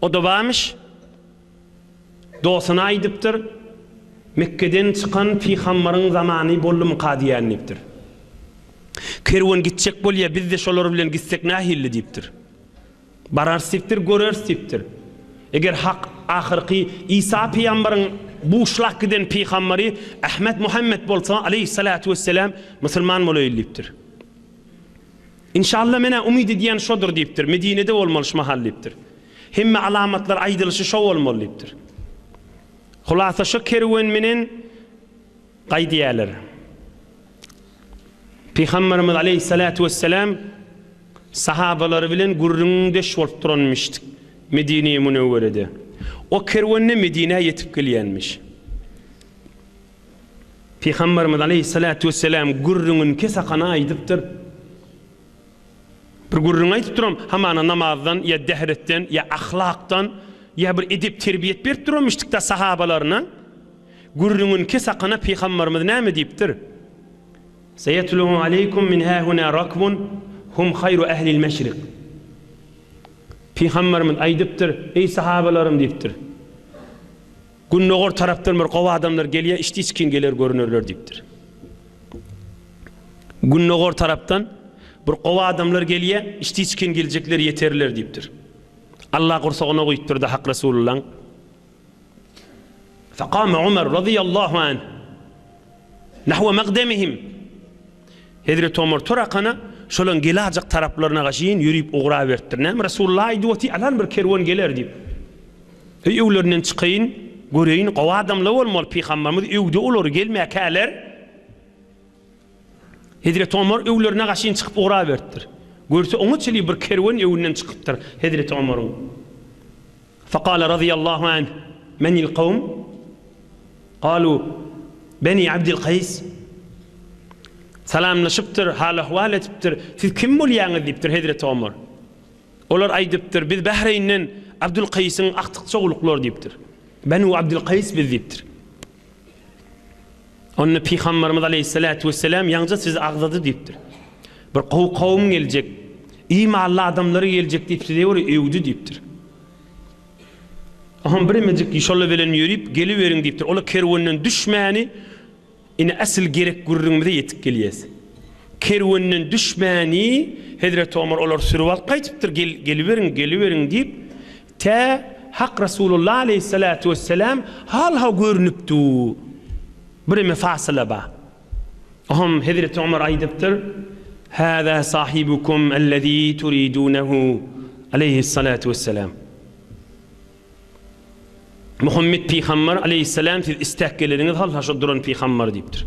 O dowamyş dostuna aýdypdyr, Mekgeden çykan pygambaryň zamany boldumyka diýýän diýipdir. Kerwen gitjek bolýa, biz-de şolar bilen gitsek nähilli diýipdir. Bararys diýipdir, göreris diýipdir. Eger Hak ahyrky Isa pygambaryň buşlak giden pygambary Ahmet Muhammet bolsa, aleýhissalatu wesselam, musulman bolaýyl diýipdir. Inşalla men-ä umyt edýän şodur diýipdir, Medinede bolmaly şu mahal diýipdir. Hemme alamatlar aýdylyşy şo bolmaly diýipdir. Hulasa şo kerwen menen gaýdýarlar. Pygamberimiz aleýhissalatu wessalam sahabalary bilen gürrüňdeş bolup duranmyş Medine-i Münewwerede. O kerwende Medinä ýetip gelýänmiş. Pygamberimiz aleýhissalatu wesselam gürrüňini kesakana aýdypdyr. Bir gürrüň aýdyp duram, hamana namazdan ýa dehretden ýa ahlakdan ýa bir edep terbiýet berip duramyşdykda sahabalaryna. Gürrüňini kesakana pygamberimiz näme diýipdir? Seýetluhu aleýkum min hahuna rakbun hum haýru ahlil meşrik. Pygamberimiz aýdypdyr, eý sahabalarym diýipdir. Gündogar tarapdan bir gowy adamlar gelýär, işdiç kiň geler görünerler diýipdir. Gündogar tarapdan bir gowy adamlar gelýär, işdiç kiň geljekler ýeterler diýipdir. Alla gursagyna guýupdyrda Hak Resulullaň. Fekame Umar razyýallahu anh nahwe mekdemihim. Hezreti Omar tur akana, şolaň gelajak taraplaryna gaşyn ýörüp ugraberipdir. Näme, Resulullah aýdyp oty, alan bir kerwen geler diýip. Heý öwlerinden çykaýyn, göreýin, gowy adamlar bolmaly, pygambarymyz öwdi olary, gelmäkäler. Hezreti Omar öwlerine gaşyn çykyp ugraberipdir. Görse oňa çenli bir kerwen öwünden çykypdyr Hezreti Omaryň. Fakala razyýallahu anh, Menil kawm? Kalu, Beni Abdil Kaýs. Salamlaşypdyr, hal-ahwal edipdir, Siz kim bolýaňyz? diýipdir hezreti Omar. Olar aýdypdyr, Biz Bahreýnden Abdul Kaýsyň agtyk-çowluklar diýipdir. Benu Abdil Kaýs biz diýipdir. Onda Pygamberimiz aleýhissalatu wesselam ýaňja sizi agzady diýipdir. Bir gowy kowum geljek, imally adamlary geljek diýip size göre öwdi diýipdir. Oňam biremejik şolar bilen ýörüp geliberiň diýipdir. Olar kerwenden düşmäni ine asyl gerek gürrüňimize ýetip gelýäs. Kerwenden düşmäni Hezreti Omar olar sürüp alyp gaýtypdyr, geliberiň, geliberiň diýip. Tä Hak Resulullah aleýhissalatu wesselam halha görnüp dur. Bireme fasyla bar. Oňam Hezreti Omar aýdypdyr, Hâzâ sahibukum ellezî turidûnehu aleýhissalatu wesselam. Muhammet pygamber aleýhissalam siz isläp geleniňiz halha şu duran pygamber diýipdir.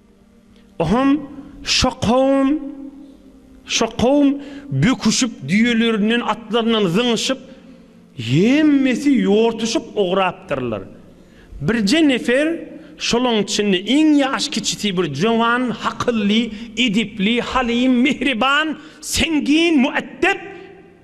Oňam şo kowum, şo kowum böküşip, düýelerinden, atlaryndan zyňyşyp, hemmesi ýortuşyp ugrapdyrlar. Birje nefer, şolaň içinde iň ýaş kiçisi bir jöwan, hakylly, edepli, halym, mähriban, sängin, müeddep,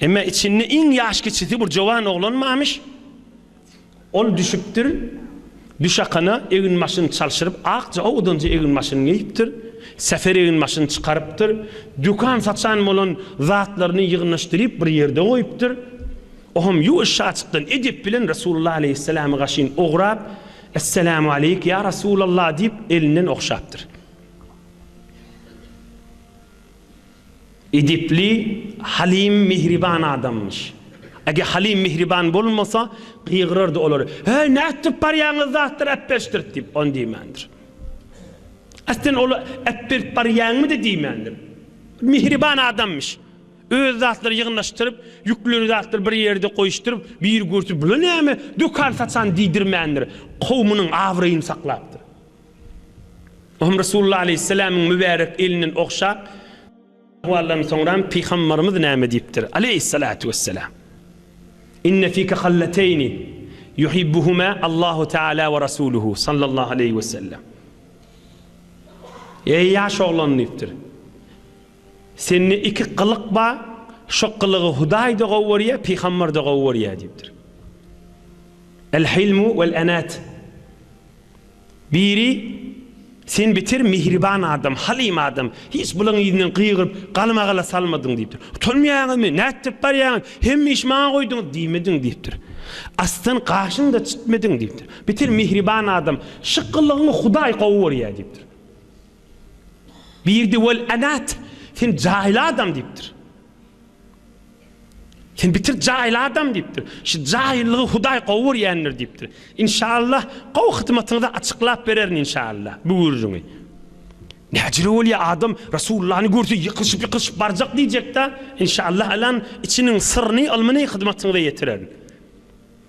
Emma içinde iň ýaş kiçisi bir jowan oglanmamyş. Ol düşüpdir. Düşakana eginbaşyny çalşyryp, akja owdanja eginbaşyny geýipdir. Säher eginbaşyny çykarypdyr. Dükan saçan bolan zatlaryny ýygnaşdyryp bir ýerde goýupdyr. Oňam ýuwaş şaçykdan edep bilen Resulullah aleýhissalamy gaşyn ograp, Essalamu aleýk, ýa Resulallah diýip, elinden ogşapdyr. Edepli, Halim mihriban adamymyş. Eger Halim mihriban bolmasa, gygyrardy olar, Heý, nätdirip barýaňyz zatlar äpberşdirt diýip, ony diýmändir. Aslynda ol äpberip barýaňmy-da diýmändir. Mihriban adamymyş. Öz zatlary ýygnasdyryp, ýüklen zatlary bir ýerde goýuşdyryp, bir görse, Bula näme, dökan saçan diýdirmändir. Kowumynyň abraýyny saklapdyr. Bu hem Resulullah aleýhissalamyň mübärek elinden ogşap, Ahwaldan soňram Pygambarymyz näme diýipdir, aleýhissalatu wessalam, Inne fike hallateýni, yuhibbuhuma Allahu taala we rasuluhu, sallallahu aleýhi wesellem. Eý ýaş oglan diýipdir. Sende iki gylyk bar, şo gylygy Hudaý-da gowy görýär, pygamber-de gowy görýär diýipdir. El-hilmu wel-enat. Biri, Sen beter mihriban adam, halim adam, hiç bularyň yzyndan gygyryp, galmagala salmadyň diýipdir. Utanmaýaňyzmy, nätdirip barýaňyz, hemme işi maňa goýduňyz diýmediň diýipdir. Asdan gaşyňy-da çytmediň diýipdir. Beter mihriban adam, Şu gylygyňy Hudaý gowy görýär diýipdir. Birdi Wol Anat, sen jaýyl adam diýipdir. Sen bitir jaýyl adam diýipdir. Şu jaýyllygy Hudaý gowy görýändir diýipdir. Inşallah gowy hyzmatyňyzy açyklap bererin inşallah bu gürrüňi. Näjele bolýa adam Rasullany görse ýykylyşyp ýykylyşyp barjak diýjekdä inşallah alan içiniň syryny ylmyny hyzmatyňyza ýetirerin.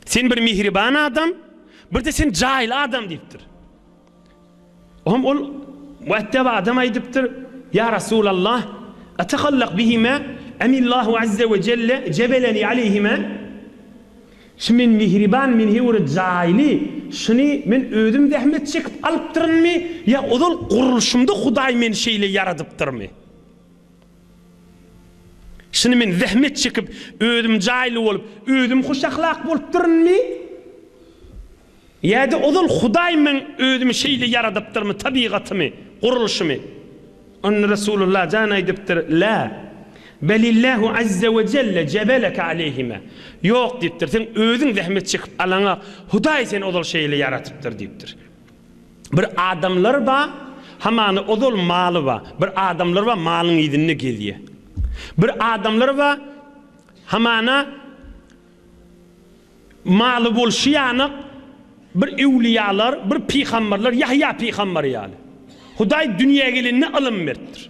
Sen bir mihriban adam birde sen jaýyl adam diýipdir. Oňa ol mueddep adam aýdypdyr, Ýa Rasulallah, etehallak bihima emillahu azze we jelle jebeleni aleýhima, Şu men mihriban, men her bir jaýly, şuny men özüm zähmet çekip alypdyrynmy, ýa ozal gurluşymda Hudaý meni şeýle ýaradypdyrmy? Şuny men zähmet çekip, özüm jaýly bolup, özüm hoşahlak bolupdyrynmy? Ýa-da ozal Hudaý men özümi şeýle ýaradypdyrmy, tabygatymy, gurluşymy? Onda Resulullah jan aýdypdyr, Lâ, belillâhu azze we celle jebeleke aleyhima, Ýok diýipdir, sen özüň zähmet çekip alaňa, Hudaý seni ozal şeýle ýaratypdyr diýipdir. Bir adamlar bar, hamana ozal maly bar. Bir adamlar bar, malyň yzynda gezýär. Bir adamlar bar, hamana. Maly bolşy ýanak, bir öwlüýalar, bir pygamberler, Ýahýa pygamber ýaly. Hudaý dünýä gelende ylym beripdir.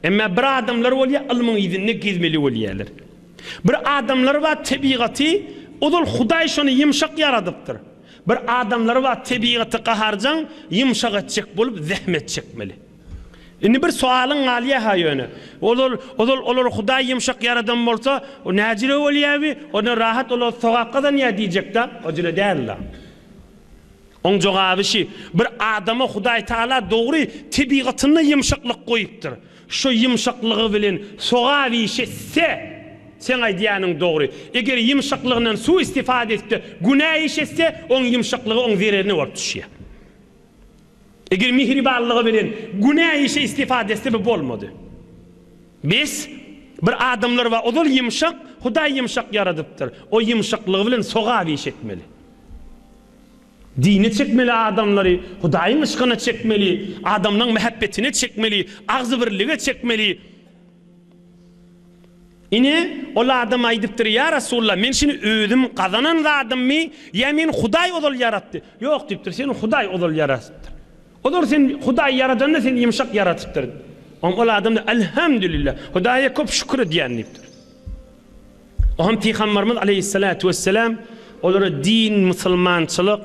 Emma bir adamlar bolýar, ylmyň yzynda gezmeli bolýarlar. Bir adamlar bar, tebigaty ozal Hudaý şony ýumşak ýaradypdyr. Bir adamlar bar, tebigaty gaharjaň, ýumşak etjek bolup zähmet çekmeli. Indi bir sowalyň galýa-ha ýöne. Ol ol, ol ol, olary Hudaý ýumşak ýaradan bolsa, o näjire bolýawi? Ondan rahat olar sogap gazanýa diýjek-dä? O jüle däl-la. Oň jogaby şi, bir adama Hudaý Taala dogry tebigatynda ýumşaklyk goýupdyr. Şo ýumşaklygy bilen sogap iş etse, seň aýdýanyň dogry. Eger ýumşaklygyndan su-istifada edip-de günä iş etse, oň ýumşaklygy oň zererine bolup düşýä. Eger mihribanlygy bilen günä işe istifade etse bu bolmady. Bes, bir adamlar bar ozal ýymşak, Hudaý ýymşak ýaradypdyr, o ýymşaklygy bilen sogap iş etmeli. Dine çekmeli adamlary, Hudaýyň yşkyna çekmeli, adamlaň mähebbetine çekmeli, agzybirlige çekmeli. Ine, ol adam aýdypdyr, Ýa Resulalla, men şuny özüm gazanan zadymmy, ýa meni Hudaý ozal ýaratdy? Ýok diýipdir, seni Hudaý ozal ýaratypdyr. Ozal seni Hudaý ýaradanda seni ýumşak ýaratypdyr. Oňa ol adam-da, Elhamdülillah, Hudaýa köp şükür edýän diýipdir. Oňa pygamberimiz aleýhissalatu wesselam olara din, musulmançylyk,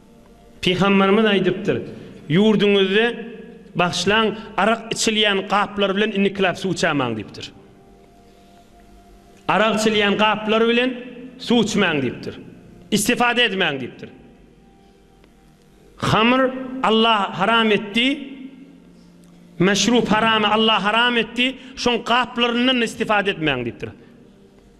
Pygamberimiz aýdypdyr, Ýurduňyzda bagşlaň arak içilýän gaplar bilen inniklap suw içämaň diýipdir. Arak içilýän gaplar bilen suw içmäň diýipdir. Istifada edmäň diýipdir. Hamr Allah haram etdi, meşrup haramy Allah haram etdi, şoň gaplaryndan-da istifada etmäň diýipdir.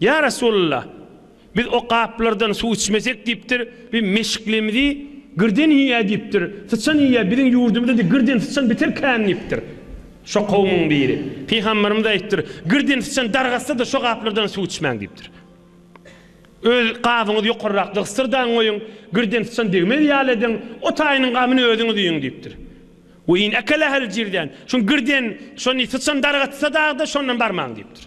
Ýa Resulalla! Biz o gaplardan suw içmesek diýipdir, biz meşiklimizi girden iýýä diýipdir, syçan iýýä, biziň ýurdumyzda-da girden syçan biter kän diýipdir. Şo kowumyň biri, Pygamberimiz aýypdyr, Girden syçan dargatsa-da şo gaplardan suw içmäň diýipdir. Öz gabyňyzy ýokarrak dygsyrdagyn goýuň, girden syçan degmez ýaly ediň, o taýynyň gamyny özüňiz iýiň diýipdir. We in akalahal jirdan, şo girden, şony syçan dargatsa dagda şondan barmaň diýipdir.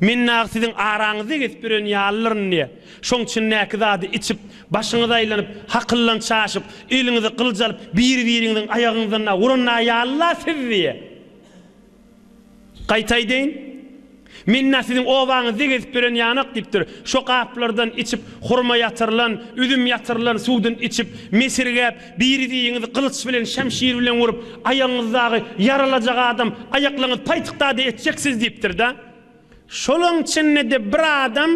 Men dagy siziň araňyzda gezip ýören ýalylyryn diýýä. Şoň içindäki zady içip, başyňyz aýlanyp, hakyldan çaşyp, eliňize gylyç alyp, bir-biriňiziň aýagyňyzdan dagy uran dagy ýaly-la siz diýýä. Gaýta aýdaýyn. Men dagy siziň obaňyzda gezip ýören ýanak diýipdir. Şo gaplardan içip, hurma ýatyrylan, üzüm ýatyrylan suwdan içip, mesirgäp, Biriziňizi gylyç bilen, şemşir bilen urup, aýagyňyzdagy ýaralajak adam, aýaklaryňyz paýtykdady etjek siz diýipdir-de. Şolaň içinde-de bir adam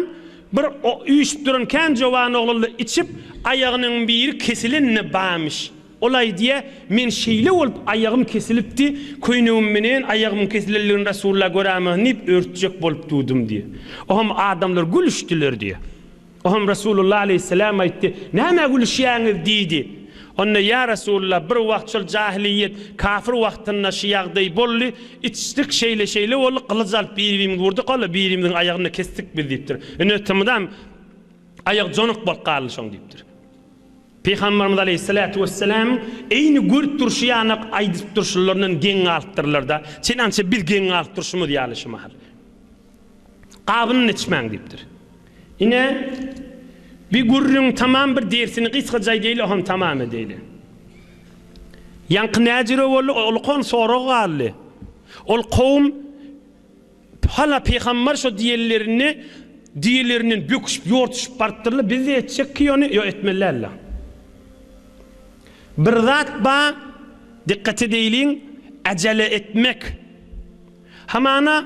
bir üýşüp duran kän jowan oglanla içip, aýagynyň biri kesilen-de barmyş. Ol aýdýa, Men şeýle bolup aýagym kesilipdi, köýnegim menen aýagymyň kesilenligini Resulla göräýmäsin diýip, örtjek bolup durdum diýýä. Oňam adamlar gülüşdiler diýýä. Oňa Resulullah aleýhissalam aýtdy, Nämä gülüşýäňiz? diýdi. Onda, Ýa Resulullah, bir wagt şol jahiliýet, kafir wagtynda şu ýagdaý boldy, içdik, şeýle-şeýle boldy, gylyç alyp bir-birimizi urdyk, walla, birimiziň aýagyny-da kesdik biz diýipdir. Ine, tmydam aýagy jonuk bolup galdy şoň diýipdir. Pygamberimiz aleýhissalatu wesselamyň eýni görüp durşy ýanak aýdyp durşlaryndan geň galypdyrlar-da, çenança biz geň galyp durşumyz ýaly şu mahal. Gabyny-da içmäň diýipdir. Ine, bi gürrüň tamam bir dersini gysgaja edeýli, oham tamam edeýli. Ýaňky näjüre boldy, o ulkan sorag galdy. Ol kowum hala pygambar şo diýenlerini diýelerinden böküşip, ýortuşyp barypdyrlar, biz-de etjek ki ony, ýok etmeli däl-le. Bir zat ba, dikkat edeýliň, äjele etmek. Hamana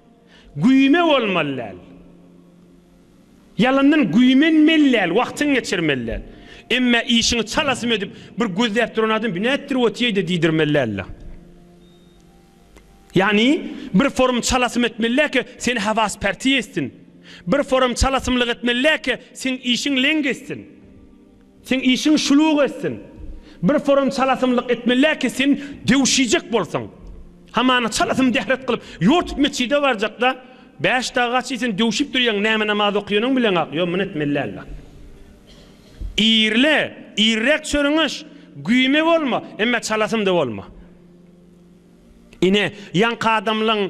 Güýme bolmaly däl. Ýalandan güýmenmeli däl, wagtyňy geçirmeli däl. Emmä işiňi çalasym edip, bir gözläp duran adam bu nätdir otýeýde diýdirmeli däl-le. Ýagny, bir forum çalasym etmeli däl ki, seni hawas pärti etsin. Bir forum çalasymlyk etmeli däl ki, seň işiň leň geçsin. Seň işiň şuluk etsin. Bir forum çalasymlyk etmelä ki sen döwşijek bolsaň. Hamana çalasym dehret kylyp ýortup metjide barjakda bäş dagy gaç diýsen döwşip durýaň näme namaz okýanyň bileňak ýok muny etmelälä. Irle, irräk çörüňeş, güýme bolma, emme çalasym-da bolma. Ine, ýaňky adamlaň.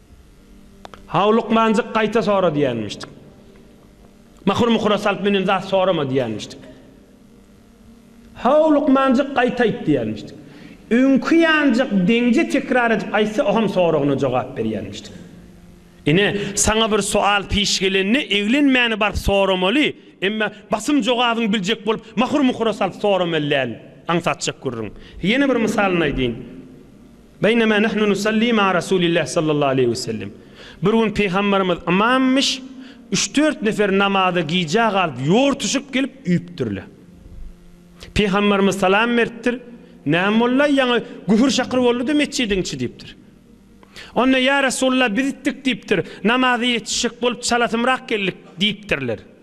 Howlukmanjyk gaýta sora diýenmişdik. Mahur-muhura salyp münen zat sorama diýenmişdik. Howlukmanjyk gaýta aýt diýenmişdik. Öňki ýanjyk deňje tekrar edip aýtsa oham soragyna jogap berýenmişdik. Ine, saňa bir soal piş gelende eglenmäni baryp soramaly, emma basym jogabyňy biljek bolup mahur-muhura salyp soramaly däl. Aňsatjak gürrüň. Ýene bir mysalyny aýdýyn. Beýnemâ nahnu nusallî ma'a Resûlillâh sallallahu aleýhi we sellem, Bir gün Pygamberimiz ymamyş, üç-dört nefer namaza gijä galyp, ýortuşyp gelip üýüpdirler. Pygamberimiz salam beripdir, Näme boldy-aý, ýaňy gühür-şakyr boldy-da metjidiň içi diýipdir. Onda, Ýa Resûlullah, biz itdik diýipdir, namaza ýetişjek bolup çalasymrak geldik diýipdirler.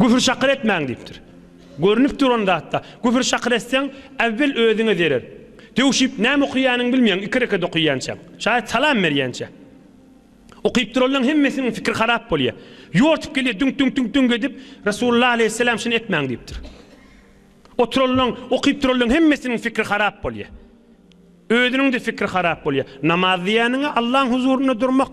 Küfür-şakyr etmäň diýipdir. Görnüp duran zatda, küfür-şakyr etseň, äwwel özüňe zerer. Döwşüp, näme okaýanyňy bilmeýäň, iki rekat okaýançaň, şaýat salam berýänçä. Okyp duranlaň hemmesiniň pikiri harap bolýar. Ýortup gelýär, düňk-düňk-düňk-düňk edip, Resulullah aleýhisselam şuny etmäň diýipdir. Oturanlaň, okyp duranlaň hemmesiniň pikiri harap bolýar. Özüniň-de pikiri harap bolýar. Namaz diýýäniň-ä Allaň huzurynda durmak.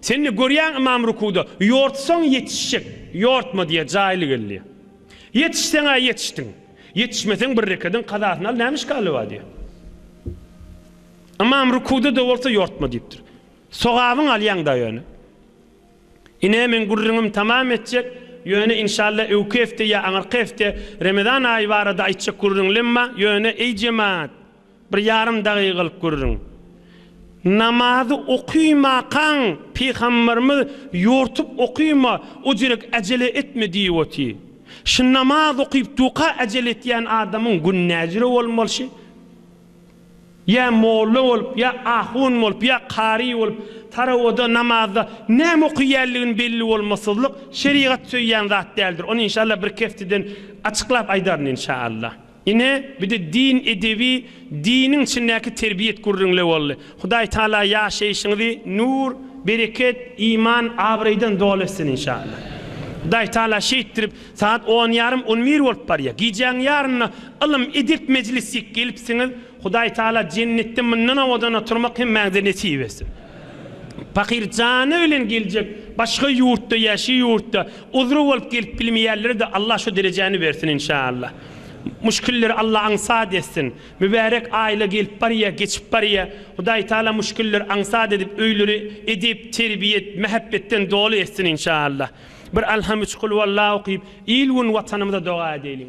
Sen-de görýäň, ymam rukuwda, Ýortsaň ýetişjek, ýortma diýýär, jaýly gel diýýär. Ýetişseň-ä ýetişdiň. Ýetişmeseň bir rekadyň kazasyny al, näme işgali bar diýýär. Ymam rukuwda-da bolsa ýortma diýipdir. Sogabyňy alýaň-da ýöne. Ine, men gürrüňimi tamam etjek, ýöne, inşalla, öňki hepde ýa aňyrky hepde Remezan aýy barada aýtjak gürrüň-lem bar, ýöne, eý, jemaat! Bir ýarym dagygalyk gürrüň. Namazy okymakan Pygamberimiz ýortup okyma, ojirek äjele etme diýioti. Şu namaz okyp duka äjele etýän adamyň gün näjüre bolmalşy? Ýa molla bolup, ýa ahun bolup, ýa kary bolup, tarawada, namazda näme okyýänligin belli bolmasyzlyk şerigat söýýän zat däldir. Ony inşallah birki hefteden açyklap aýdaryn inşallah. Ine, bir-de din edebi, diniň içindäki terbiýet gürrüňle boldy. Hudaý Tagala ýaşaýşyňyzy nur, bereket, iman, abraýdan doly etsin inşallah. Hudaý Tagala şeýtdirip, sagat on ýarym, on bir bolup barýar. Gijäň ýaryna ylym, edep mejlisik gelipsiňiz. Hudaý Tagala jennetde mundan owadan oturmak hemmäňize nesip etsin. Pahyr jany bilen geljek, başga ýurtda, ýaşy ýurtda, uzry bolup gelip bilmeýänlere-de Allah şu derejäni bersin inşallah. Muşkilleri Alla aňsat etsin. Mübärek aýla gelip barýa, geçip barýa. Hudaý Taala muşkilleri aňsat edip, öýleri edep, terbiýe, mähepbetden doly etsin inşaallah. Bir Alham üç Kulhuwalla okyp, il-gün Watanymyza doga edeliň.